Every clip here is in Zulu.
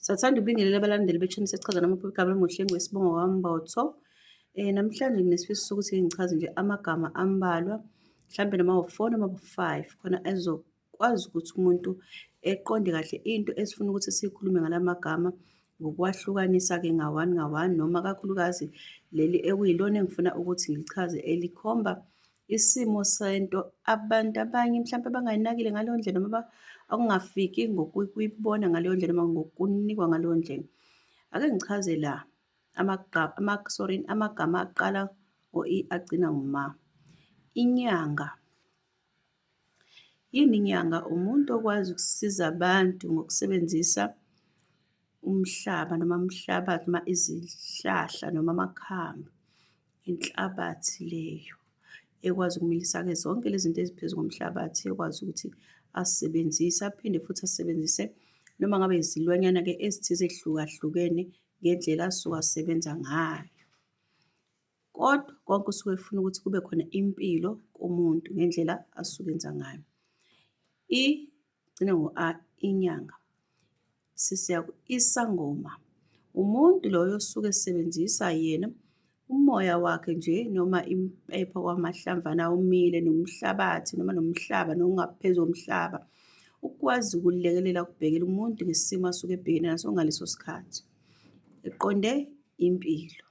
Sathanda ukubingelela abalandeli bethini sesichaza noma igama lomuhlengi wesibongo kaMbotho. Eh namhlanje nginesifiso sokuthi ngichaze nje amagama ambalwa mhlambe noma u-4 noma u-5 khona ezokwazi ukuthi umuntu eqonde kahle into esifuna ukuthi sikhulume ngalamagama ngokwahlukanisa ke ngawani ngawani noma kakhulukazi leli ekuyilona engifuna ukuthi ngilichaze elikhomba isimo sento abantu abanye mhlawumpe abangayinakile ngaleyo ndlela noma okungafiki ngokuyibona ngaleyo ndlela noma ngokunikwa ngaleyo ndlela. Ake ngichaze la sorry amagama aqala ngo-i agcina ngoma. Inyanga. Yini inyanga? Umuntu okwazi ukusiza abantu ngokusebenzisa umhlaba noma umhlabathi noma izihlahla noma amakhambi inhlabathi leyo ekwazi ukumilisa-ke zonke lezi zinto eziphezu komhlabathi ekwazi ukuthi asisebenzise aphinde futhi asisebenzise noma ngabe izilwanyana-ke ezithize ezihlukahlukene ngendlela asuke asebenza ngayo. Kodwa konke usuke efuna ukuthi kube khona impilo kumuntu ngendlela asuke enza ngayo. I gcine ngo-a inyanga. Sisiya isangoma. Umuntu loyo osuke esebenzisa yena umoya wakhe nje noma impepho kwamahlamvana omile nomhlabathi noma nomhlaba nokungaphezu komhlaba ukwazi ukulekelela ukubhekela umuntu ngesimo asuke ebhekene naso ngaleso sikhathi eqonde impilo.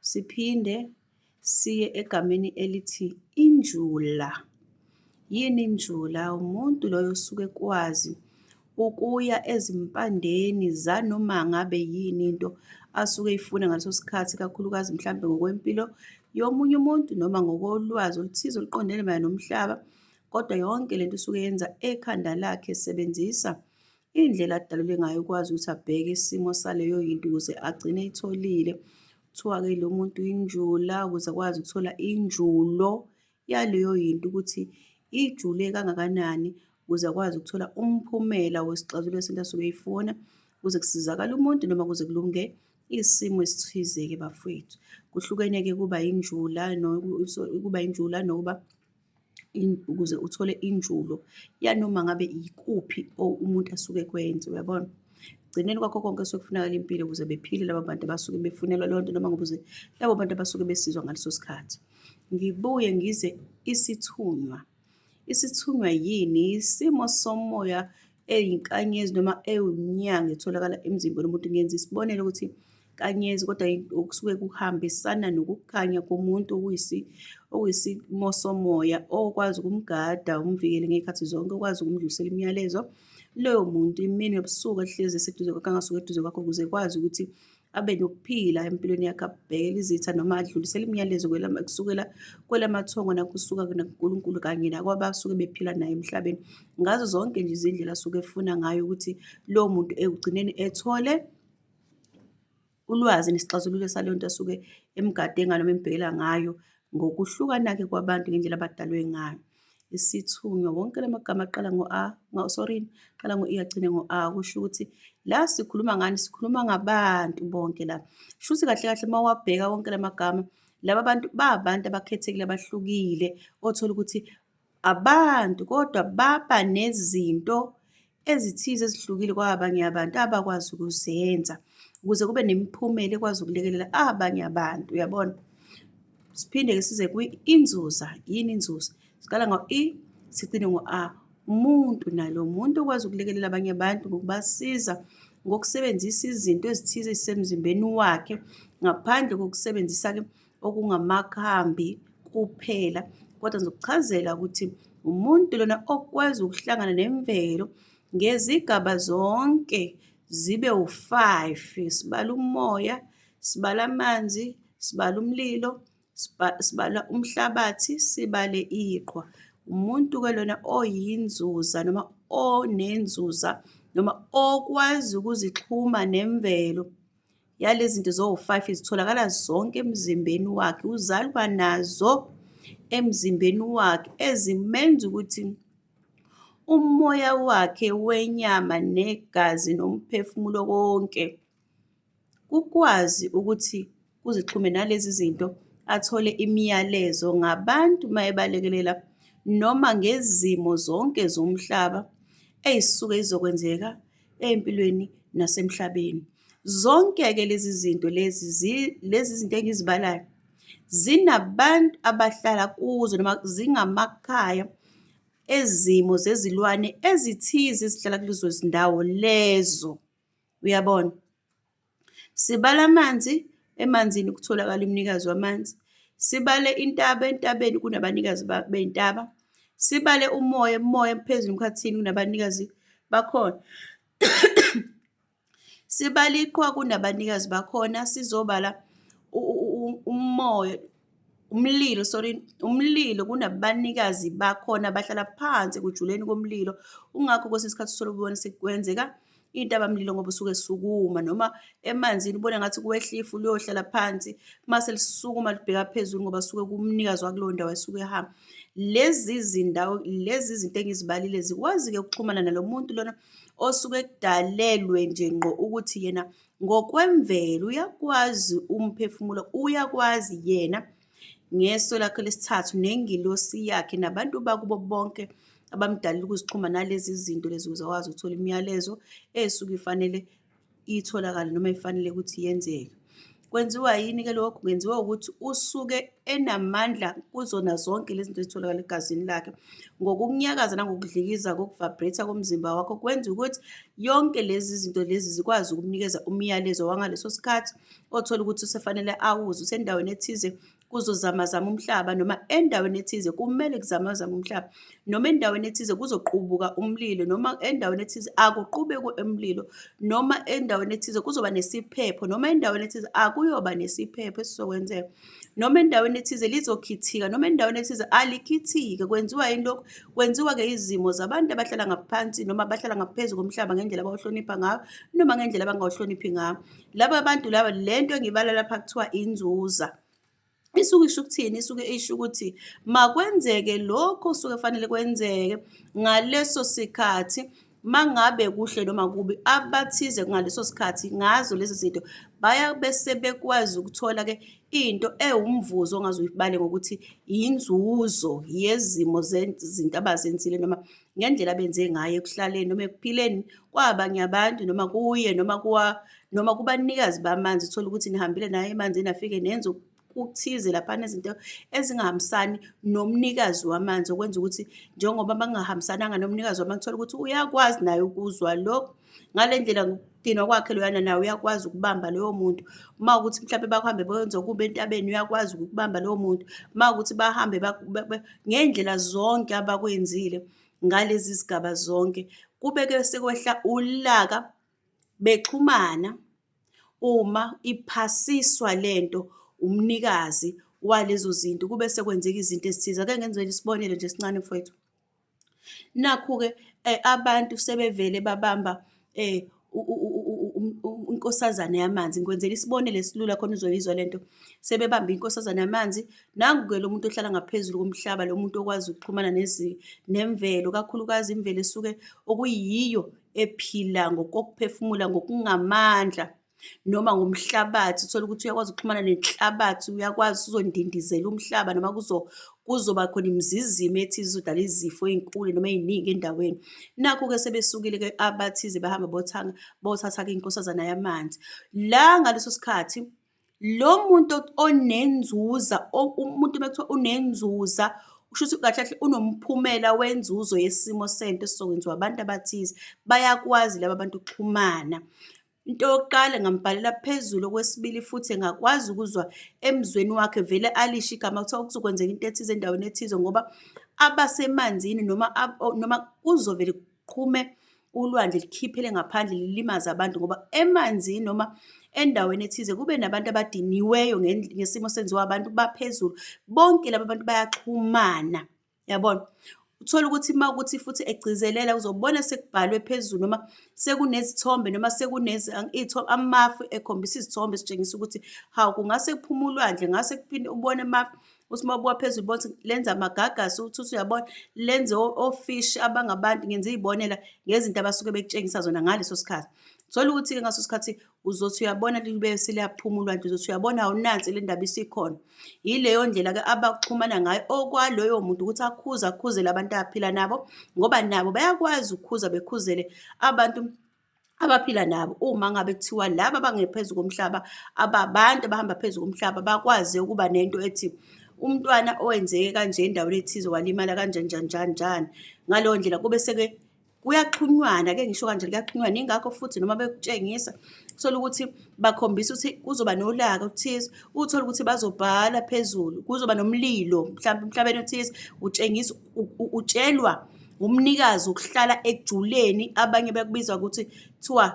Siphinde siye egameni elithi injula. Yini injula? Umuntu loyo osuke ekwazi ukuya ezimpandeni zanoma ngabe yini into asuke eyifuna ngaleso sikhathi, ikakhulukazi mhlampe ngokwempilo yomunye umuntu noma ngokolwazi oluthize oluqondene mayelana nomhlaba. Kodwa yonke lento usuke yenza ekhanda lakhe esebenzisa Indlela adalule ngayo ukwazi ukuthi abheke isimo saleyo yinto ukuze agcine itholile. Kuthiwa-ke lo muntu injula ukuze akwazi ukuthola injulo yaleyo yinto ukuthi ijule kangakanani ukuze akwazi ukuthola umphumela wesixazululo esinto asuke eyifuna kuze kusizakale umuntu noma kuze kulunge isimo esithize-ke bafowethu. Kuhlukene-ke kuba injula kuba injula nokuba ukuze uthole injulo yanoma ngabe yikuphi umuntu asuke ekwenze uyabona ekugcineni kwakho konke kusuke kufunakala impilo ukuze bephile laba bantu abasuke befunelwa leyo nto noma ngokuze labo bantu abasuke besizwa ngaleso sikhathi ngibuye ngize isithunywa isithunywa yini isimo somoya eyinkanyezi noma ewunyanga etholakala emzimbeni womuntu ngenza isibonelo ukuthi izinkanyezi kodwa okusuke kuhambisana nokukhanya komuntu okuyisimo somoya okwazi ukumgada umvikele ngey'khathi zonke okwazi ukumdlulisela imiyalezo loyo muntu imini nobusuku ahlezi eseduze kwakho angasuke eduze kwakho ukuze ekwazi ukuthi abe nokuphila empilweni yakhe abhekele izitha noma adlulisele imiyalezo kusukela kwelamathongo nakusuka nakuNkulunkulu kanye nakwabasuke bephila naye emhlabeni ngazo zonke nje izindlela asuke efuna ngayo ukuthi lowo muntu ekugcineni ethole ulwazi nesixazululo saleyo nto asuke emgade ngayo noma embhekela ngayo ngokuhlukana-ke kwabantu ngendlela abadalwe ngayo. Isithunywa, wonke la magama aqala ngo-a, sorry, aqala ngo-e agcine ngo-a, kusho ukuthi la sikhuluma ngani, sikhuluma ngabantu bonke la. Shuthi kahle kahle uma wabheka wonke la magama, laba bantu babantu abakhethekile abahlukile othola ukuthi Abantu kodwa baba nezinto ezithize ezihlukile kwabanye abantu abakwazi ukuzenza ukuze kube nemiphumela ekwazi ukulekelela abanye abantu uyabona siphinde-ke size kwi-inzuza yini inzuza siqala ngo-e sigcine ngo-a umuntu nalo muntu okwazi ukulekelela abanye abantu ngokubasiza ngokusebenzisa izinto ezithize ezisemzimbeni wakhe ngaphandle kokusebenzisa-ke okungamakhambi kuphela kodwa ngizokuchazela ukuthi umuntu lona okwazi ukuhlangana nemvelo ngezigaba zonke zibe u-five sibala umoya sibala amanzi sibala umlilo sibala umhlabathi sibale iqhwa umuntu-ke lona oyinzuza noma onenzuza noma okwazi ukuzixhuma nemvelo Yalezi zinto zowu-five zitholakala zonke emzimbeni wakhe, uzalwa nazo emzimbeni wakhe ezimenza ukuthi umoya wakhe wenyama negazi nomphefumulo konke kukwazi ukuthi kuzixhume nalezi zinto athole imiyalezo ngabantu uma ebalekelela noma ngezimo zonke zomhlaba ey'suke zizokwenzeka empilweni nasemhlabeni. Zonke-ke lezi zinto lezi lezi zinto engizibalayo zinabantu abahlala kuzo noma zingamakhaya ezimo zezilwane ezithize ezihlala kulezo zindawo lezo. Uyabona? Sibale amanzi, emanzini kutholakala umnikazi wamanzi. Sibale intaba, entabeni kunabanikazi bey'ntaba. Sibale umoya, emoya phezulu emkhathini kunabanikazi bakhona. Sibale iqhwa kunabanikazi bakhona, sizobala umoya umlilo sorry umlilo kunabanikazi bakhona bahlala phansi ekujuleni komlilo ungakho kwesinye isikhathi uthole ubona sekwenzeka intabamlilo ngoba usuke sukuma noma emanzini ubona ngathi kuwehlifu luyohlala phansi mase lisukuma libheka phezulu ngoba suke kumnikazi wakuleyo ndawo esuke ehamba lezi zindawo lezi zinto engizibalile zikwazi-ke ukuxhumana nalo muntu lona osuke kudalelwe nje ngqo ukuthi yena ngokwemvelo uyakwazi umphefumulo uyakwazi yena ngeso lakhe lesithathu nengilosi yakhe nabantu bakubo bonke abamdalile ukuzixhuma nalezi zinto lezi ukuze akwazi ukuthola imiyalezo esuke ifanele itholakale noma ifanele ukuthi yenzeke kwenziwa yini ke lokho kwenziwa ukuthi usuke enamandla kuzona zonke lezi zinto ezitholakala egazini lakhe ngokukunyakaza nangokudlikiza kokuvibrate komzimba wakho kwenza ukuthi yonke lezi zinto lezi zikwazi ukumnikeza umyalezo wangaleso sikhathi othola ukuthi usefanele awuze usendaweni ethize kuzozamazama umhlaba noma endaweni ethize kumele kuzamazama umhlaba noma endaweni ethize kuzoqubuka umlilo noma endaweni ethize akuqubekwe umlilo noma endaweni ethize kuzoba nesiphepho noma endaweni ethize akuyoba nesiphepho esizokwenzeka. noma endaweni ethize lizokhithika noma endaweni ethize alikhithike kwenziwa yini lokhu kwenziwa-ke izimo zabantu abahlala ngaphansi noma abahlala ngaphezu komhlaba ngendlela abawuhlonipha ngayo noma ngendlela abangawuhloniphi ngayo laba bantu laba le nto engibala lapha kuthiwa inzuza isuke isho ukuthini isuke isho ukuthi makwenzeke lokho suke fanele kwenzeke ngaleso sikhathi mangabe kuhle noma kubi abathize ngaleso sikhathi ngazo lezi zinto baya bese bekwazi ukuthola ke into ewumvuzo ongaze uyibale ngokuthi yinzuzo yezimo zezinto abazenzile noma ngendlela abenze ngayo ekuhlaleni noma ekuphileni kwabanye abantu noma kuye noma kuwa noma kubanikazi bamanzi uthola ukuthi nihambile naye emanzini afike nenze kuthize laphana izinto ezingahambisani nomnikazi wamanzi okwenza ukuthi njengoba bangahambisananga nomnikazi wamanzi thola ukuthi uyakwazi naye ukuzwa lokho ngale ndlela ngokudinwa kwakhe loyana naye uyakwazi ukubamba loyo muntu uma ukuthi mhlawumbe bakuhambe benze okubi entabeni uyakwazi ukubamba lowo muntu uma ukuthi bahambe ngey'ndlela zonke abakwenzile ngalezi zigaba zonke kube-ke sekwehla ulaka bexhumana uma iphasiswa lento umnikazi walezo zinto kube sekwenzeka izinto ezithize. Ake ngenzele isibonelo nje esincane mfowethu. Nakhu-ke eh, abantu sebevele babamba eh, inkosazane yamanzi ngikwenzela isibonelo esilula khona uzoyizwa le nto sebebambe inkosazane yamanzi nangu-ke lo muntu ohlala ngaphezulu komhlaba lo muntu okwazi ukuxhumana nemvelo kakhulukazi imvelo esuke okuyiyo ephila ngokokuphefumula ngokungamandla noma ngomhlabathi uthole ukuthi uyakwazi ukuxhumana nenhlabathi uyakwazi uzondindizela umhlaba noma kuzo kuzoba khona imizizimo ethize izodala izifo ey'nkulu noma ey'ningi endaweni nakho-ke sebesukile-ke abathize bahamba bothanga bothatha-ke inkosazana yamanzi la ngaleso sikhathi Lo muntu onenzuza umuntu uma kuthiwa unenzuza kusho ukuthi kahle kahle unomphumela wenzuzo yesimo sento esizokwenziwa abantu abathize. Bayakwazi laba bantu ukuxhumana. Into yokuqala ngambhalela phezulu, okwesibili futhi engakwazi ukuzwa emzweni wakhe vele alisho igama kuthiwa kuzokwenzeka into ethize endaweni ethize ngoba abasemanzini noma noma kuzovele kuqhume ulwandle likhiphele ngaphandle lilimaze abantu ngoba emanzini noma endaweni ethize kube nabantu abadiniweyo ngesimo senziwa abantu baphezulu bonke laba bantu bayaxhumana yabona uthole ukuthi uma ukuthi futhi egcizelela uzobona sekubhalwe phezulu noma sekunezithombe noma sekunezi amafu ekhombisa izithombe esitshengisa ukuthi hawu kungase kuphume ulwandle ngase kuphinde ubone amafu uSimobo waphezulu bonke lenza amagagasi ukuthi uthi uyabona lenze ofish abangabantu ngenza izibonela ngezinto abasuke bekutshengisa zona ngaleso sikhathi thola ukuthi ke ngaso sikhathi uzothi uyabona libe seliyaphuma ulwandle uzothi uyabona awunansi le ndaba isikhona yileyo ndlela ke abaxhumana ngayo okwaloyo muntu ukuthi akhuze akhuzele abantu aphila nabo ngoba nabo bayakwazi ukukhuza bekhuzele abantu abaphila nabo uma ngabe kuthiwa laba abangephezu komhlaba ababantu abahamba phezu komhlaba bakwazi ukuba nento ethi umntwana owenzeke kanje endaweni ethize walimala kanjani njani njani njani ngaleyo ndlela kube seke kuyaxhunywana ke ngisho kanje kuyaxhunywana ingakho futhi noma bekutshengisa uthola ukuthi bakhombisa ukuthi kuzoba nolaka othize uthola ukuthi bazobhala phezulu kuzoba nomlilo mhlawumbe emhlabeni othize utshengisa utshelwa Umnikazi ukuhlala ekujuleni abanye bekubiza ukuthi kuthiwa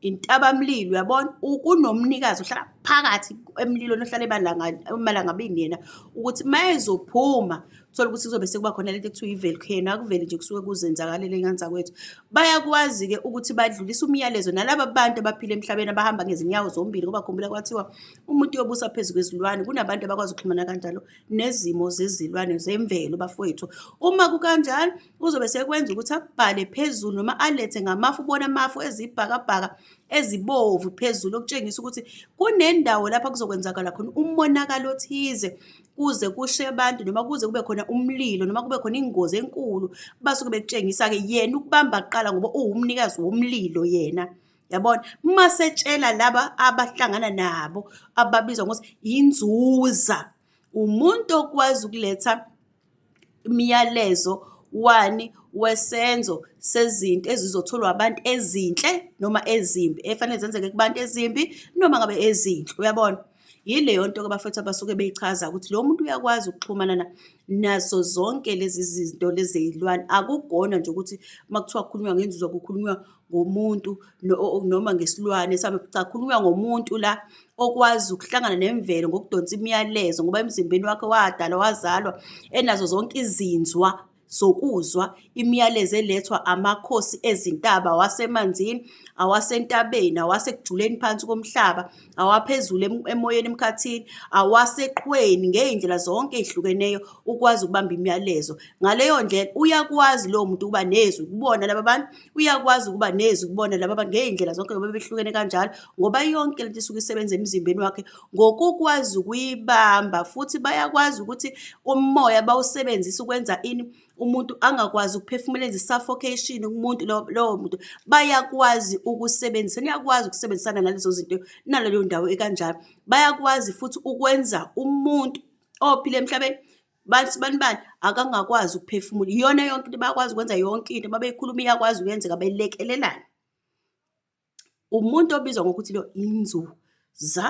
intabamlilo uyabona kunomnikazi ohlala phakathi emlilweni ohlala emalangabini yena ukuthi uma ezophuma thola ukuthi kuzobe sekuba khona lento ekuthiwa i-volcano akuveli nje kusuke kuzenzakalele nganza kwethu bayakwazi-ke ukuthi badlulise umyalezo nalaba bantu abaphila emhlabeni abahamba ngezinyawo zombili ngoba khumbula kwathiwa umuntu uyobusa phezu kwezilwane kunabantu abakwazi ukuxhumana kanjalo nezimo zezilwane zemvelo bafowethu. Uma kukanjalo kuzobe sekwenza ukuthi abhale phezulu noma alethe ngamafu ubona amafu ezibhakabhaka ezibovu phezulu okutshengisa ukuthi kunendawo lapha kuzokwenzakala khona umonakalo othize kuze kushe abantu noma kuze kube khona umlilo noma kube khona ingozi enkulu basuke bekutshengisa-ke yena ukubamba kuqala ngoba uwumnikazi womlilo yena. yabona uma setshela laba abahlangana nabo ababizwa ngokuthi inzuza umuntu okwazi ukuletha imiyalezo wani wesenzo sezinto ezizotholwa abantu ezinhle noma ezimbi efanele zenzeke kubantu ezimbi noma ngabe ezinhle uyabona Yileyo nto ke bafethu abasuke beyichaza ukuthi lo muntu uyakwazi ukuxhumana nazo zonke lezi zinto lezi zeyilwane. Akugona nje ukuthi uma kuthiwa kukhulunywa ngenzizwa kukhulunywa ngomuntu noma ngesilwane sabe cha kukhulunywa ngomuntu la okwazi ukuhlangana nemvelo ngokudonsa imiyalezo ngoba emzimbeni wakhe wadalwa wazalwa enazo zonke izinzwa. zokuzwa imiyalezo elethwa amakhosi ezintaba awasemanzini awasentabeni awasekujuleni phansi komhlaba awaphezulu emoyeni emkhathini awaseqhweni ngey'ndlela zonke ey'hlukeneyo ukwazi ukubamba imiyalezo ngaleyo ndlela uyakwazi lowo muntu ukuba nezwi kubona laba bantu uyakwazi ukuba nezwi kubona laba bantu ngey'ndlela zonke ngoba behlukene kanjalo ngoba yonke lento isuke isebenza emzimbeni wakhe ngokukwazi ukuyibamba futhi bayakwazi ukuthi umoya bawusebenzise ukwenza ini umuntu angakwazi ukuphefumula enze suffocation umuntu lowo muntu bayakwazi ukusebenzisa niyakwazi ukusebenzisana nalezo zinto naleyo ndawo ekanjalo bayakwazi futhi ukwenza umuntu ophile emhlabeni bathi bani bani akangakwazi ukuphefumula iyona yonke into bayakwazi ukwenza yonke into uma beyikhuluma iyakwazi ukuyenzeka belekelelana umuntu obizwa ngokuthi lo inzuza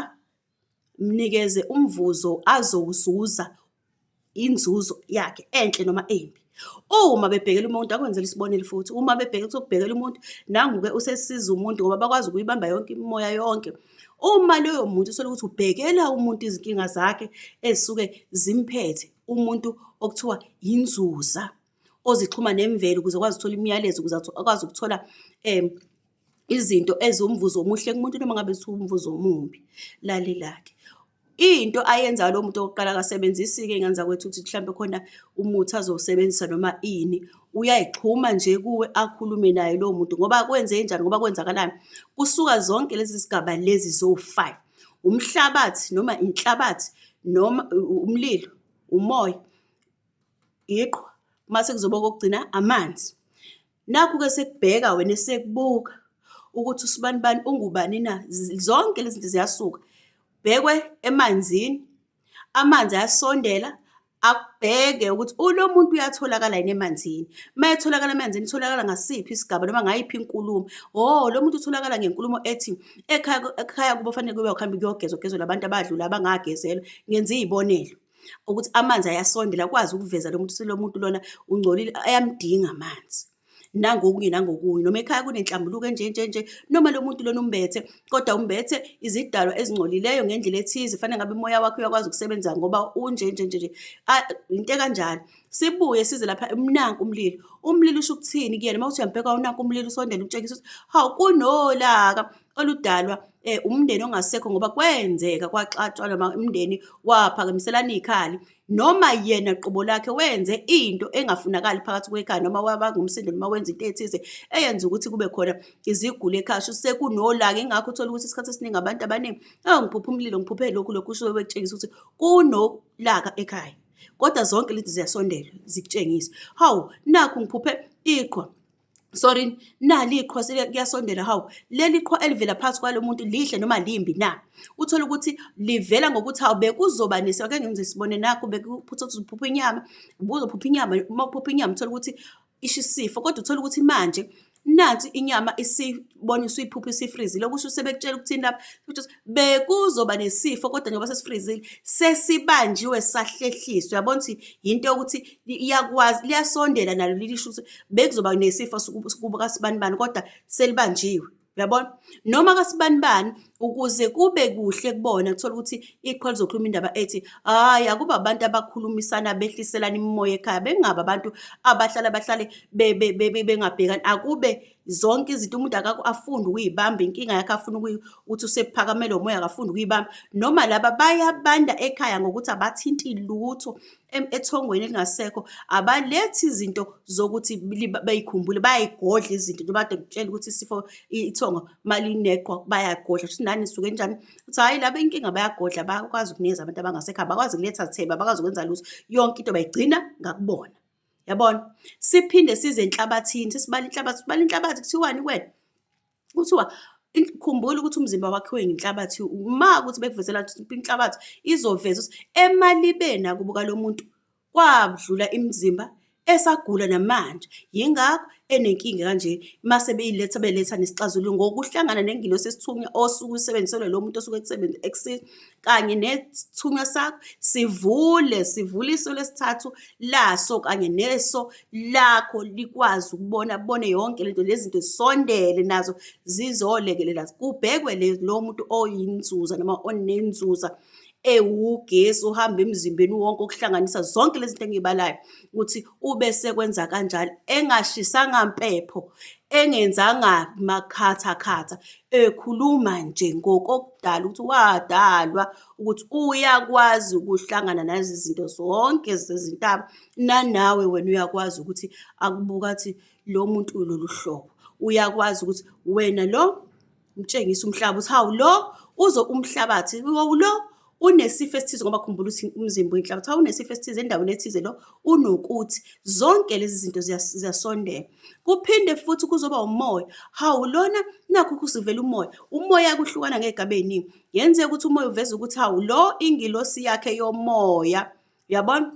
mnikeze umvuzo azowuzuza inzuzo yakhe enhle noma embi uma bebhekela umuntu akwenzela isibonelo futhi uma bebheke kuzobhekela umuntu nangu-ke usesiza umuntu ngoba bakwazi ukuyibamba yonke imimoya yonke Uma loyo muntu usola ukuthi ubhekela umuntu izinkinga zakhe ezisuke zimphethe, umuntu okuthiwa yinzuza ozixhuma nemvelo ukuze akwazi ukuthola imiyalezo ukuze akwazi ukuthola um izinto eziwumvuzo omuhle kumuntu noma ngabe ziwumvuzo omumbi, lalela-ke. Into ayenzayo lo muntu okokuqala akasebenzisi-ke iy'ngane zakwethu ukuthi mhlawumbe khona umuthi azowusebenzisa noma ini. Uyayixhuma nje kuwe akhulume naye lowo muntu ngoba kwenzenjani, ngoba kwenzakalani? Kusuka zonke lezi zigaba lezi zowu-five, umhlabathi noma inhlabathi noma umlilo, umoya, iqhwa, mase kuzoba okokugcina amanzi. Nakhu-ke sekubheka wena esekubuka ukuthi usibanibani ungubani na zonke lezi zinto ziyasuka bhekwe emanzini amanzi ayasondela akubheke ukuthi ulo muntu uyatholakala yini emanzini uma etholakala emanzini utholakala ngasiphi isigaba noma ngayiphi inkulumo o oh, lo muntu utholakala ngenkulumo ethi ekhaya ekhaya kubo fanele kube ukuhamba kuyogezwa kugezwe labantu abadlula abangagezelwa ngenza iy'bonelo ukuthi amanzi ayasondela akwazi ukuveza lo muntu lo muntu lona ungcolile ayamdinga amanzi nangokunye nangokunye noma ekhaya kunenhlambuluko enjenjenje noma lo muntu lona umbethe kodwa umbethe izidalwa ezingcolileyo ngendlela ethize fanele ngabe umoya wakhe uyakwazi ukusebenza ngoba unjenjenjenje into ekanjalo sibuye size lapha umnanku umlilo umlilo usho ukuthini kuyena uma uthi uyambheka unanku umlilo usondela umtshengisa ukuthi hawu kunolaka oludalwa eh umndeni ongasekho ngoba kwenzeka kwaxatshwa noma umndeni waphakamiselana ikhali noma yena qobo lakhe wenze into engafunakali phakathi kwekhaya noma wabangumsindo noma wenza into ethize eyenza ukuthi kube khona iziguli ekhasha sekunolaka ingakho uthola ukuthi isikhathi esiningi abantu abaningi oh ngiphupha umlilo ngiphuphe lokhu lokhu usuke bekutshengisa ukuthi kunolaka ekhaya kodwa zonke lezi ziyasondela zikutshengisa hawu nakhu ngiphuphe iqhwa sorry nali iqhwa kuyasondela hawu leli qhwa elivela phansi kwalo muntu lihle noma limbi na uthole ukuthi livela ngokuthi hawu bekuzoba nesi ake ngenze sibone nakho bekuphutha kuzophupha inyama ubuzophupha inyama uma uphupha inyama uthole ukuthi isho isifo kodwa uthole ukuthi manje nansi inyama isibona isiphupha isifrizile okusho sebekutshela ukuthini lapha bekuzoba nesifo kodwa njengoba sesifrizile sesibanjiwe sahlehliswa yabona ukuthi yinto yokuthi iyakwazi liyasondela nalo lilisho ukuthi bekuzoba nesifo kubo kasibanibani kodwa selibanjiwe uyabona noma kasibanibani ukuze kube kuhle kubona kuthola ukuthi iqhwa lizokhuluma indaba ethi hayi akuba abantu abakhulumisana behliselana imimoya ekhaya bengaba abantu abahlala bahlale bengabhekani akube zonke izinto umuntu akakho afunde ukuyibamba inkinga yakhe afuna ukuthi usephakamele umoya akafunde ukuyibamba noma laba bayabanda ekhaya ngokuthi abathinti lutho ethongweni elingasekho abalethi izinto zokuthi bayikhumbule bayayigodla izinto njengoba kade ngitshela ukuthi isifo ithongo malineqwa bayagodla futhi nani suke njani ukuthi hhayi laba inkinga bayagodla bakwazi ukunikeza abantu abangasekho abakwazi kuletha thebe abakwazi ukwenza lutho yonke into bayigcina ngakubona yabona siphinde size enhlabathini sesibala inhlabathi sibala inhlabathi kuthiwani kwena kuthiwa khumbula ukuthi umzimba wakhiwe ngenhlabathi uma ukuthi bekuvezela ukuthi inhlabathi izoveza ukuthi emalibeni akubuka lo muntu kwadlula imizimba esagula namanje yingakho enenkinga kanje mase beyiletha beletha nesixazululo ngokuhlangana nengilosi esithunywa osuke usebenziselwe lo muntu osuke ekusebenza kanye nethunywa sakho sivule sivule iso lesithathu laso kanye neso lakho likwazi ukubona bone yonke lento lezinto zisondele nazo zizolekelela kubhekwe lo muntu oyinzuza noma onenzuza ewugesi uhamba emzimbeni wonke okuhlanganisa zonke lezi zinto engiyibalayo ukuthi ube sekwenza kanjalo engashisanga mpepho engenzanga makhatha khatha Ekhuluma nje ngokokudala ukuthi wadalwa ukuthi uyakwazi ukuhlangana nazi zinto zonke zezintaba nanawe wena uyakwazi ukuthi akubuka athi lo muntu ulolu hlobo uyakwazi ukuthi wena lo mtshengisa umhlaba ukuthi hawu lo uzo umhlabathi lo unesifo esithize ngoba khumbula ukuthi umzimba uyinhlaka kuthiwa unesifo esithize endaweni ethize lo unokuthi zonke lezi zinto ziyasondela kuphinde futhi kuzoba umoya hawu lona nakho kusivela umoya umoya kuhlukana ngegaba eningi yenzeka ukuthi umoya uveza ukuthi hawu lo ingilosi yakhe yomoya yabona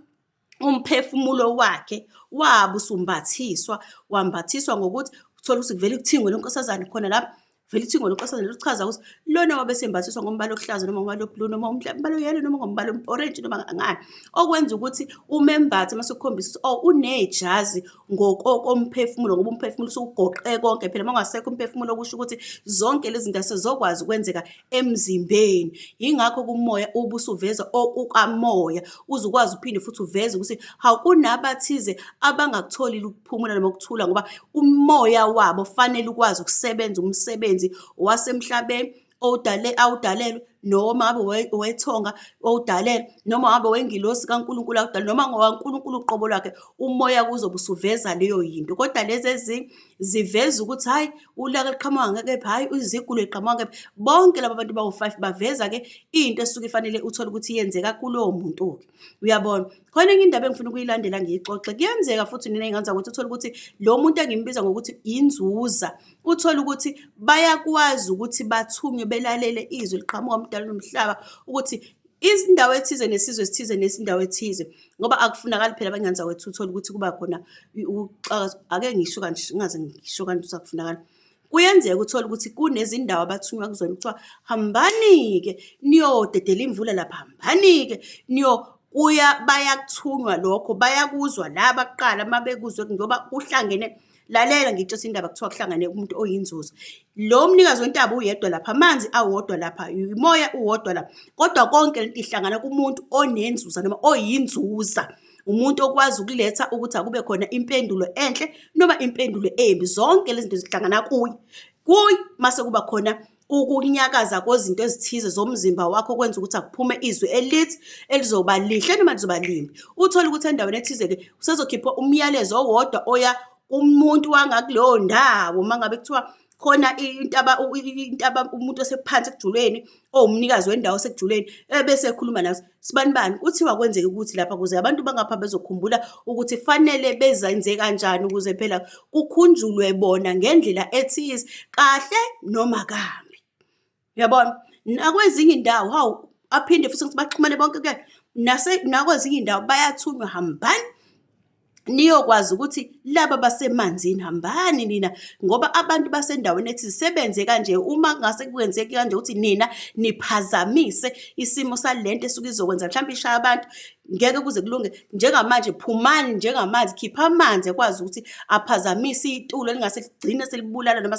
umphefumulo wakhe wabe usumbathiswa, wambathiswa ngokuthi uthole ukuthi kuvele kuthingwe lo nkosazane khona lapho, kuvele kuthingwe lo nkosazane lo kuchaza ukuthi lona wabe esembathiswa ngombala okuhlaza noma ngombala o-blue noma umbala o-yellow noma ngombala o-orange noma ngani. Okwenza ukuthi umembathe mase ukukhombisa ukuthi oh unejazi ngokokomphefumulo ngoba umphefumulo usugoqe konke phela uma ungasekho umphefumulo kusho ukuthi zonke lezi zinto asezokwazi ukwenzeka emzimbeni yingakho kumoya ube usuveza okukamoya uze ukwazi uphinde futhi uveze ukuthi hawu kunabathize abangakutholi ukuphumula noma ukuthula ngoba umoya wabo fanele ukwazi ukusebenza umsebenzi wasemhlabeni awudalelwe noma ngabe owethonga owudalelwe noma ngabe owengilosi kaNkulunkulu akudala noma ngowaNkulunkulu uqobo lwakhe umoya kuzobe usuveza leyo yinto kodwa lezi ezinye ziveza ukuthi hhayi ulaka liqhamuka ngekephi hhayi izigulo liqhamuka ngekephi bonke laba bantu bawu-five baveza-ke into esuke ifanele uthole ukuthi yenzeka kulowo muntu-ke uyabona khona enye indaba engifuna ukuyilandela ngiyixoxe kuyenzeka futhi nina ingenza ukuthi uthole ukuthi lo muntu engimbiza ngokuthi yinzuza uthole ukuthi bayakwazi ukuthi bathunywe belalele izwi liqhamuka umdala nomhlaba ukuthi izindawo ethize nesizwe esithize nesindawo ethize ngoba akufunakali phela abangenza wethu uthole ukuthi kuba khona ukuxaka ake ngisho kanje ngaze ngisho kanje ukuthi akufunakali Kuyenzeka uthole ukuthi kunezindawo abathunywa kuzona kuthiwa hambani-ke niyodedela imvula lapha, hambani-ke niyo kuya bayakuthunywa lokho bayakuzwa laba kuqala uma bekuzwe ngoba kuhlangene lalela ngitshesa indaba kuthiwa kuhlangane umuntu oyinzuzo lo mnikazi wentaba uyedwa lapha amanzi awodwa lapha umoya uwodwa lapha kodwa konke lento ihlangana kumuntu onenzuza noma oyinzuza umuntu okwazi ukuletha ukuthi akube khona impendulo enhle noma impendulo embi zonke lezi zinto zihlangana kuye kuye mase kuba khona ukunyakaza kwezinto ezithize zomzimba wakho kwenza ukuthi akuphume izwi elithi elizoba lihle noma lizoba limbi uthole ukuthi endaweni ethize-ke usezokhipha umyalezo owodwa oya umuntu wangakuleyo ndawo uma ngabe kuthiwa khona intaba intaba umuntu osephansi ekujuleni owumnikazi wendawo osekujuleni ebese ekhuluma naso sibani bani kuthiwa kwenzeke ukuthi lapha kuze abantu bangapha bezokhumbula ukuthi fanele bezenze kanjani ukuze phela kukhunjulwe bona ngendlela ethize kahle noma kabi. Uyabona? Nakwezinye indawo hawu aphinde futhi ukuthi baxhumane bonke ke nase nakwezinye indawo bayathunywa hambani niyokwazi ukuthi laba basemanzini hambani nina ngoba abantu basendaweni ethi sebenze kanje uma ngase kwenzeki kanje ukuthi nina niphazamise isimo salento esuke izokwenza mhlawumbe ishaya abantu ngeke kuze kulunge njengamanje phumani njengamanzi khipha amanzi ekwazi ukuthi aphazamise itulo elingase ligcine selibulala noma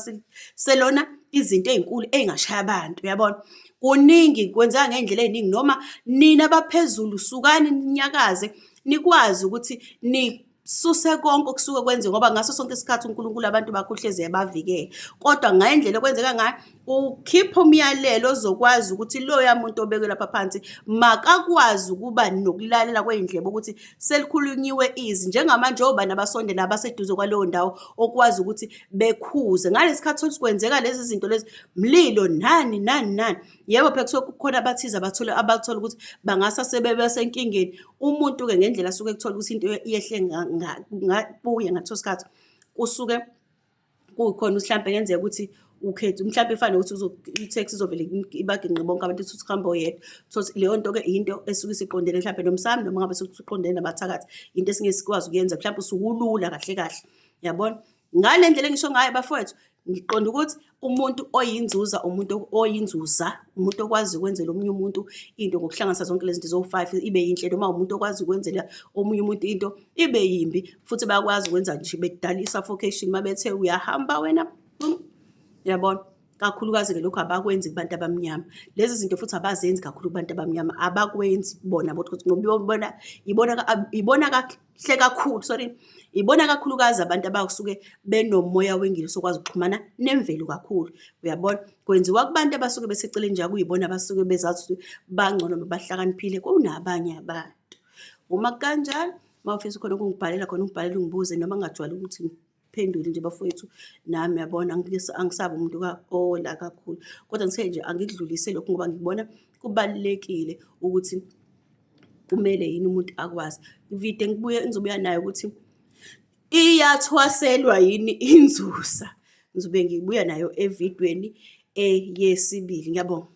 selona izinto ezinkulu ezingashaya abantu uyabona kuningi kwenzeka ngendlela eziningi noma nina abaphezulu sukani ninyakaze nikwazi ukuthi ni suse konke okusuke kwenziwe ngoba ngaso sonke isikhathi uNkulunkulu abantu bakho uhlezi ebavikele kodwa ngendlela okwenzeka ngayo ukhipha umyalelo ozokwazi ukuthi loya muntu obekwe lapha phansi makakwazi ukuba nokulalela kweyindlebe ukuthi selikhulunyiwe izi njengamanje obani abasondela abaseduze kwaleyo ndawo okwazi ukuthi bekhuze ngalesi khathi sokuthi kwenzeka lezi zinto lezi mlilo nani nani nani yebo phela kusuke kukhona abathize abathole abathola ukuthi bangasa sebebe senkingeni umuntu-ke ngendlela asuke kuthola ukuthi into yehle kuye ngaleso sikhathi kusuke kukhona mhlawumbe kenzeka ukuthi ukhethe mhlawumbe ifane ukuthi i-tax izovele ibaginqe bonke abantu ukuthi uhambe oyedwa so leyo nto-ke yinto esuke isiqondene mhlawumbe nomsami noma ngabe sukuthi uqondene nabathakathi into esingesikwazi ukuyenza mhlawumbe usukulula kahle kahle yabona ngale ndlela engisho ngayo bafowethu ngiqonda ukuthi umuntu oyinzuza umuntu oyinzuza umuntu okwazi ukwenzela omunye umuntu into ngokuhlanganisa zonke lezi zinto zo-five ibe yinhle noma umuntu okwazi ukwenzela omunye umuntu into ibe yimbi futhi bayakwazi ukwenza nje bedala i-suffocation uma bethe uyahamba wena yabona kakhulukazi-ke lokhu abakwenzi kubantu abamnyama lezi zinto futhi abazenzi kakhulu kubantu abamnyama abakwenzi bona bona ibona hle kakhulu sorry ibona kakhulukazi abantu abasuke benomoya wengilo sokwazi ukuxhumana nemvelo kakhulu uyabona kwenziwa kubantu abasuke beseceleni nje kuyibona abasuke bezazi ukuthi bangcono bahlakaniphile kunabanye abantu uma kanjalo uma ufisa khona ukungibhalela khona ungibhalele ungibuze noma ngingajwayele ukuthi phendule nje bafowethu nami yabona angisabi umuntu ola kakhulu kodwa ngithe nje angikudlulise lokhu ngoba ngibona kubalulekile ukuthi kumele yini umuntu akwazi ngivide ngibuye ngizobuya nayo ukuthi iyathwaselwa yini inzusa ngizobe ngibuya nayo evidweni eyesibili ngiyabonga